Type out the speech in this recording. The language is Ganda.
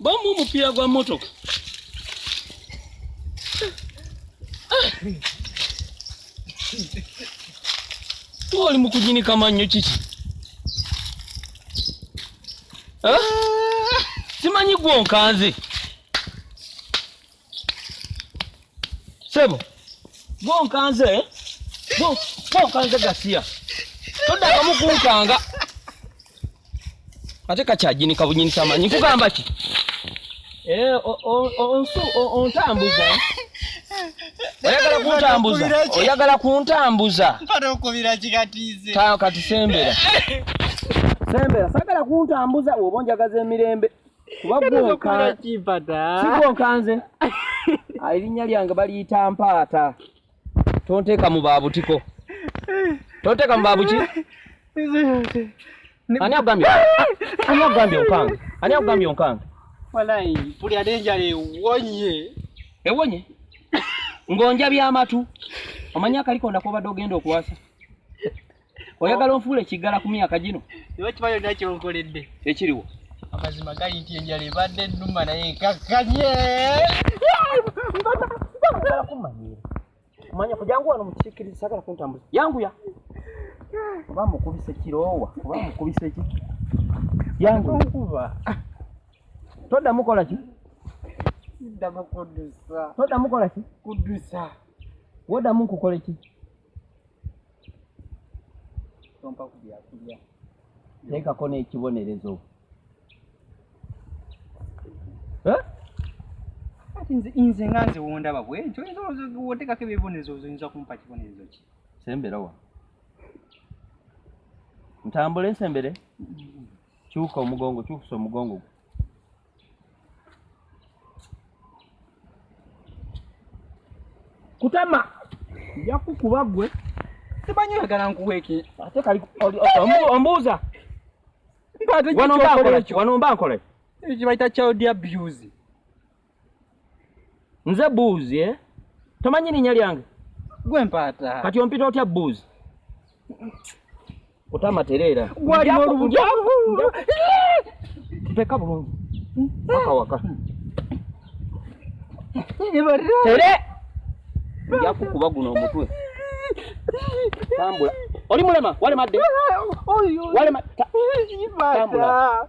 Bomu omupiira gwa mmotoka. Tuba oli mu kujinika mannyo kiki? Simanyi gwonkanze. Sebo, gwe onkanze, gwe onkanze gasiya. Toddamu kunkanga. Ate kakyajini kabunyini kyamanyi nkugamba ki? Eh, onsu ontambuza. Oyagala kuntambuza. Oyagala kuntambuza. Mpata okubira kigatize. Tayo kati sembera. Sembera, sagala kuntambuza oba onjagaza emirembe. kubagwonkanze ah, erinnya lyange baliyita mpaata tonteeka mu babutiko tonteeka mu babuki ani akugambye ani akugambye onkange ani akugambye onkange walayi buli ate enjala ewonye ewonye ng'onja byamatu omanya akaliko ndakobadde ogenda okuwasa oyagala onfuula ekiggala ku myaka gino iwe kiba yonna kyonkoledde ekiriwo amazima gali nti enjala ebadde ennuma naye nkakkanye kumanyira manya kujangu wano mukisikiriza sagala kuntambuza yanguya oba mukubisa ekiroowa oba mukubisa eki yangukuba ah. toddamu kola ki toddamu kola ki woddamu nkukoleki tompa ku byakulya teekako n'ekibonerezo kati nze nga nze wondaba bwekyo oyinza otekako ebibonerezo oyinza kumpa kibonerezo ki sembera wa ntambule nsembere kyuka omugongo kyukusa omugongo kutama nja kukuba gwe simanyi oyagala nkuweeki ate kali ombuuza wano mba nkolaki kibayita child abuse Nze buuzi eh? Tomanyi linya lyange? Gwe mpaata. Kati ompita otya buuzi? Kutama tereera. Gwali n'olubujavu. Teka bulungi. Waka waka. Tere! Nja kukuba guno omutwe. Tambula. Oli mulema, wale madde. Wale madde. Tambula.